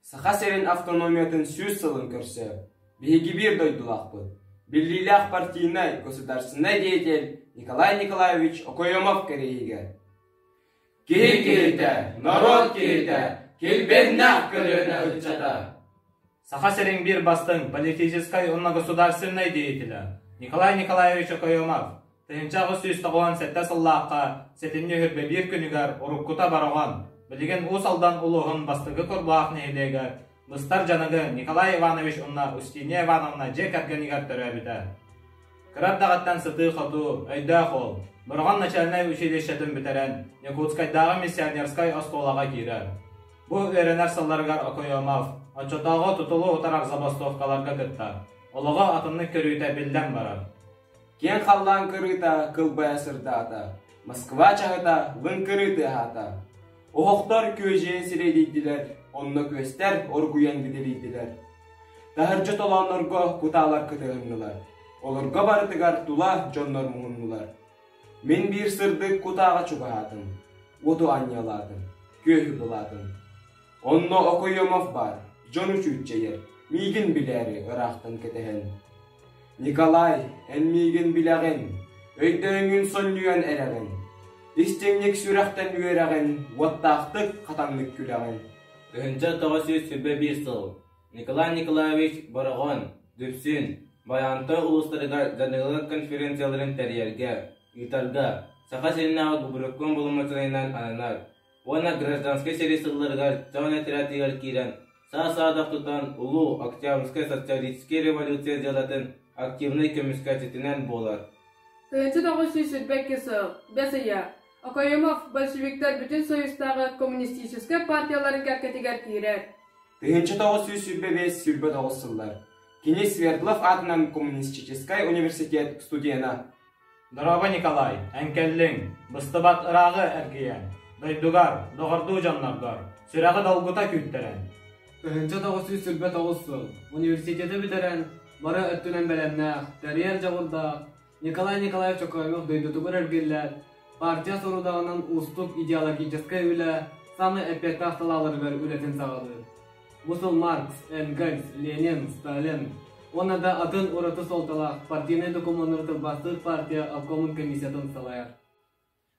Саха сирин автономиятын сүүс сылын көрсө биһиги биир дойдулаахпыт, биллиилээх партийнай, государственнай деятель Николай Николаевич Окоемов кэриэһигэр. Киһи киһитэ, норуот киһитэ, килбэннэх көлүөнэ ыччата. Саха сирин биир бастыҥ политическай уонна государственнай деятеля Николай Николаевич Окоемов тыһыынча аҕыс сүүс тоҕуон сэттэ сыллаахха сэтинньи үһүрбэ биир күнүгэр уруккута Бороҕон, билигин Уус Алдан улууһун бастакы Корбуһах нэһилиэгэ быстар дьаныгы Николай Иванович уонна Устиния Ивановна дьиэ кэргэнигэр төрөөбүтэ. Кыра эрдэҕиттэн сытыы-хотуу, өйдөөх уол, Бороҕон начальнай училищетын бүтэрэн Якутскайдааҕы миссионерскай оскуолаҕа киирэр. Бу үөрэнэр сылларыгар Окоемов оччотооҕу тутулу утарар забастовкаларга кыттар, олоҕо атыннык көрүүтэ биллэн барар. Киэҥ халлаан кырыыта кылбайа сырдаата, Москва чаһыта лыҥ кырыы тыаһаата. Оһохтор күөдьэйэн сирэйдиирдилэр, онно күөстэр оргуйан бүдүрүйдүлэр. Таһырдьа толооннорго кутаалар кытыһыннылар. Олорго барытыгар тула дьоннор муһуннулар. Мин биир сырдык кутааҕа чугаһаатым. Оту анньалаатым, күөһү булаатым. Онно Окоемов баар, дьон учуутчайыр, миигин билээри ыраахтан кэтэһэн. Николай, эн миигин билэҕин, өйдөөҥҥүн сонньуйан эрэҕин, истиҥник сүрэхтэн үөрэҕин, уоттаахтык хатаннык күлэҕин. Тыһыынча тоҕус сүүс сүүрбэ биир сыл Николай Николаевич Бороҕон, Дүпсүн, Байантай улуустарыгар дьаныылар конференцияларын тэрийэргэ, ыытарга Саха сиринээҕи Губерком боломуочунайынан ананар. уонна гражданскай сэрии сылларыгар чоон отрядыгар киирэн саа-саадах тутан улуу Октябрьскай социалистическай революция дьыалатын активнай көмүскээччитинэн буолар. Тыынчы тоҕус сүүс сүүрбэкки сыл, бэс ыйа, Окоемов большевиктар бүтүн союзтааҕы коммунистическай партияларын кэккэтигэр киирэр. Тыынчы тоҕус сүүс сүүрбэ бэс сүүрбэ тоҕус сыллар. Кини Свердлов аатынан коммунистическай университет студена, Дорообо, Николай, эн кэллиҥ, быстыбат ырааҕы эргийэн, дойдугар, доҕордуу дьонноргор, сүрэҕи долгута күүттэрэн. Тыһыынча тоҕус сүүс сүүрбэ тоҕус сыл университеты бүтэрэн, бары өттүнэн бэлэмнээх, тэрийэр дьоҕурдаах Николай Николаевич Чокообев дойдутугар эргиллээт, партия сорудаҕынан уустук идеологическай үлэ саамай эппиэттээх салааларыгар үлэтин саҕалыыр. Мусул Маркс, Энгельс, Ленин, Сталин уонна да атын ураты суолталаах партийнай докумуоннары тылбаастыыр партия обкомун комиссиятын салайар.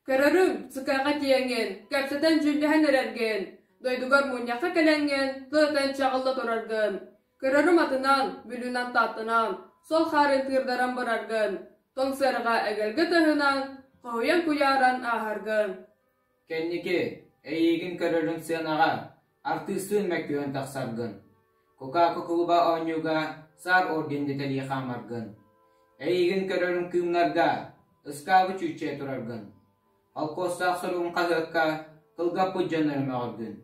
Көрөрүҥ, сыкаҕа тиэҥин, кэпсэтэн дьүүллэһэн эрэргин, дойдугар мунньахха кэлэҥҥин, тылытан чаҕылла тураргын. Көрөрүм атынан, бүлүүнэн тааттынан, сол хаарын тыырдаран бараргын, тоҥ сарыга эгэлгэ тыаһынан, хоһуйан куйааран ааһаргын. Кэнники, эйиигин көрөрүн сыанаҕа, артыыстыын мөккүһэн тахсаргын, Кока-Кола кулуба оонньууга Саар орден деталей хаамаргын, эйиигин көрөрүн кыымнарга ыскаабы чүүччэ тураргын, холкуостаах суругун хаһыакка кылгаппыт дьоннору мөҕөргүн.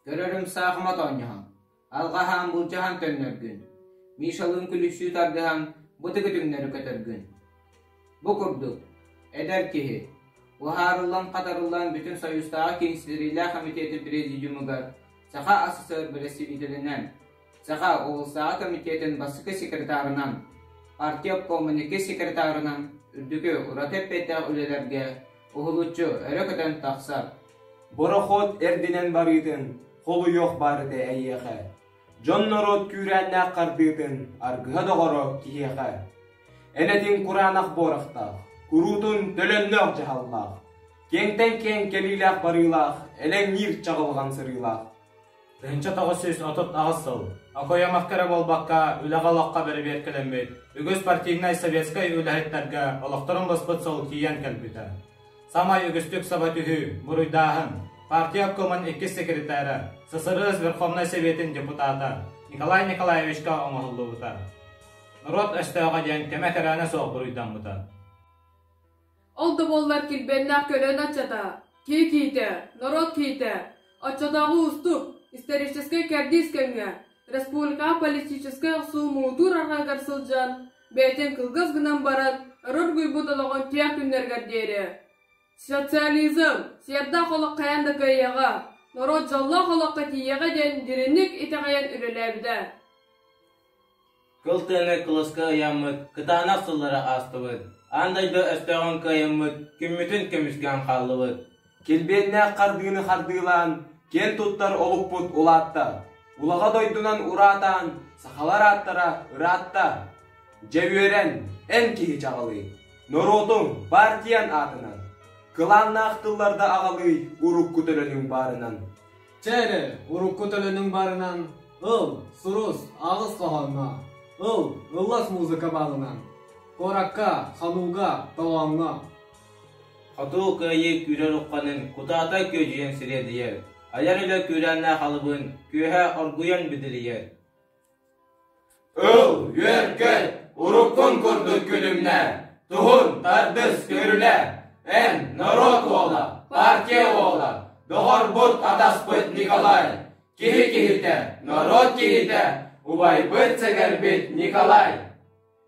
Көрөрүҥ саахыма тоонньоһон, алҕаһаан былдьаһан төннөргүн, Мишалыын күлүксүү тардыһан бу төгүтүҥнэри көтөргүн. Бу курдук, эдэр киһи, уһаарыллан-хатарыллан Бүтүн Союзтааҕы киинситтэриилээх кэмитиэти президиумугар саха СССР бэрэстэбиитэлинэн Саха улуустааҕы комитетин бастакы секретарынан, партия обкомуннуки секретарынан үрдүкү ураты эппиэттээх үлэлэргэ уһулуччу өрө көтөн тахсар. Бороход эрдинэн барыытын холуйуох баарыты эйиэхэ. Дьон норуот күүрээннээх хардыытын аргыһа доҕоро киһиэхэ. Энэтин кураанах буорахтаах, куруутун төлөннөөх дьаһаллаах, киэҥтэн киэҥ кэлиилээх барыылаах, элэҥниир чаҕылҕан сырыылаах Тыһыынча тоҕус сүүс отут аҕыс сыл окуйамахха эрэ буолбакка, үлэҕэ-олоххо бэрэбиэркэлэммит, үгүс партийнай советскай үлэһиттэргэ олохторун быспыт сыл тиийэн кэлбитэ. Саамай үгүстүк саба түһүү, буруйдааһын, партия обкомун иккис секретаря, ССРС Верховнай Сэбиэтин депутата Николай Николаевичка оҥоһуллубута. Норуот өстөөҕө диэн кэмэ кэрээнэ суох буруйдаммыта. Ол да буоллар килбиэннээх көлүөнэ аччата, киһи киитэ, норуот киитэ, оччотооҕу уустук, историческай кэрдиис кэмҥэ республикаҕа политическай охсуу муҥутуур арҕаыгар сылдьан, бэйэтин кылгас гынан баран өрөр буйбут олоҕун тиэх күннэригэр диэри социализм сиэрдээх олох хайаан да кыайыаҕа, норуот дьоллоох олоххо тиийиэҕэ диэн дириҥник итэҕэйэн үлэлээбитэ. Кыл тыыны кылыска ыйаммыт кытаанах сыллары аастыбыт, аан дойду өстөөҕүн кыайыммыт күммүтүн көмүскээн хааллыбыт. Килбиэннээх хардыыны хардыылаан, киэн туттар олукпут улаатта. Улаҕа дойдунан ураатаан, сахалар ааттара ыраатта. Дьэ үөрэн, эн киһи чаҕылый, норуотуҥ, баартыйаҥ аатынан, кылааннаах тылларда аҕалыы урукку төлөнүҥ баарынан. Чэ эрэ, урукку төлөнүҥ барынан, ыл, сурус, аҕыс хоһооҥҥо, ыл, ыллас музыка баалынан, куоракка, ханууга, тоҕооҥҥо. Хотуу кыайыы күүрэр ухханын кутаата күөдьүйэн сириэдийэр, айар үлэ күүрээннээх алыбын күөһэ оргуйан бүдүрүйэр. Ыл, үөркэт, уруккун курдук күлүмнэ, туһун тардыс көрүлэ, эн норуот уола, партия уола, доҕорбут атаспыт Николай, киһи киһитэ, норуот киһитэ, убайбыт сэгэрбит Николай.